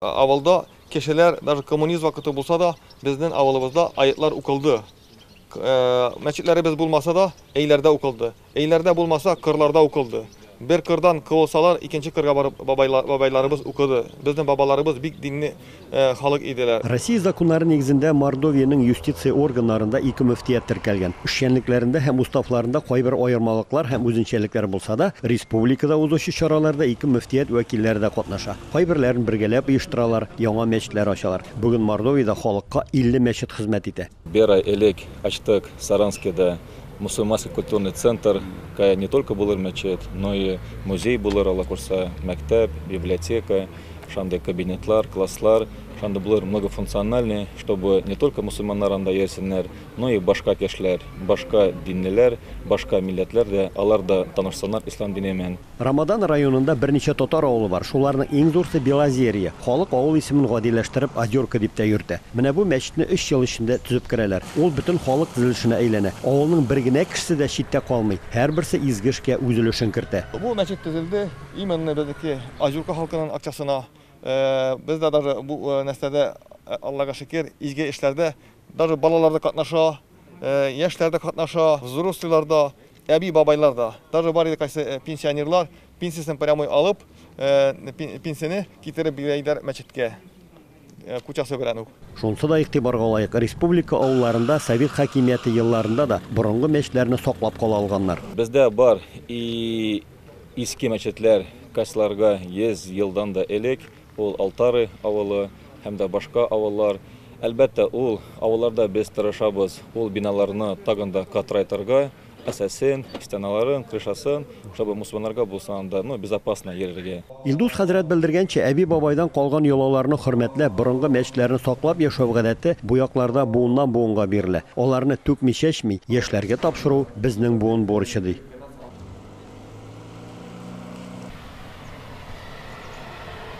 Авылда кешеләр, даже коммунизм вакыты булса да, безнең авылыбызда аятьләр укылды. Мәчетләребез булмаса да, өйләрдә укылды. Өйләрдә булмаса, кырларда укылды. Бер кырдан кылсалар, икенче кырга барып бабайларыбыз укыды. Безнең бабаларыбыз бик динне халык иделәр. Россия законнары нигезендә Мордовиянең юстиция органнарында ике мөфтият теркәлгән. Эшчәнлекләрендә һәм уставларында кайбер аермалыклар һәм үзенчәлекләр булса да, республикада узучы чараларда ике мөфтият вәкилләре дә катнаша. Кайберләрен бергәләп оештыралар, яңа мәчетләр ачалар. Бүген Мордовиядә халыкка 50 мәчет хезмәт итә. Бер ай элек ачтык Саранскида мусульманский культурный центр. Кая не только булыр мәчет, но и музей булыр, Алла курса, мәктәп, библиотека, шандый кабинетлар, класслар, шандый булыр многофункциональный, чтобы не только мусульманнар анда йөрсеннәр, но и башка кешеләр, башка динлеләр, башка милләтләр дә, алар да танышсыннар ислам дине мен. Рамадан районында берничә татар авылы бар, шуларның иң зурсы Белозерье. Халык авыл исемен гадиләштереп Озерка дип тә йөртә. Менә бу мәчетне өч ел эчендә төзеп керәләр. Ул бөтен халык төзелешенә әйләнә. Авылның бер генә кешесе дә читтә калмый, һәрберсе изге эшкә үз өлешен кертә. Бу мәчет төзелде именно безнеке Озерка халкының акчасына. Без дә даже бу нәрсәдә, Аллага шөкер, изге эшләрдә даже балалар да катнаша, яшьләр дә катнаша, взрослыйлар да. Әби-бабайлар да, даже бар иде кайсы пенсионерлар, пенсиясен прямой алып, пенсияне китереп бирә иделәр мәчеткә, кучасы белән үк. Шунысы да игътибарга лаек, республика авылларында совет хакимияте елларында да борынгы мәчетләрне саклап кала алганнар. Бездә бар и иске мәчетләр, кастьларга 100 елдан да элек Ул Алтары авылы һәм дә башка авыллар. Әлбәттә, ул авылларда без тырышабыз ул биналарны тагын да катырайтырга, әсәсен, стеналарын, крышасын, чтобы мусульманнарга булса анда, ну, безопасно йөрергә. Илдус хәзрәт белдергәнчә, әби-бабайдан калган йолаларны хөрмәтләп, борынгы мәчетләрне саклап яшәү гадәте бу якларда буыннан-буынга бирелә. Аларны түкми-чәчми, яшьләргә тапшыру, безнең буын бурычы, ди.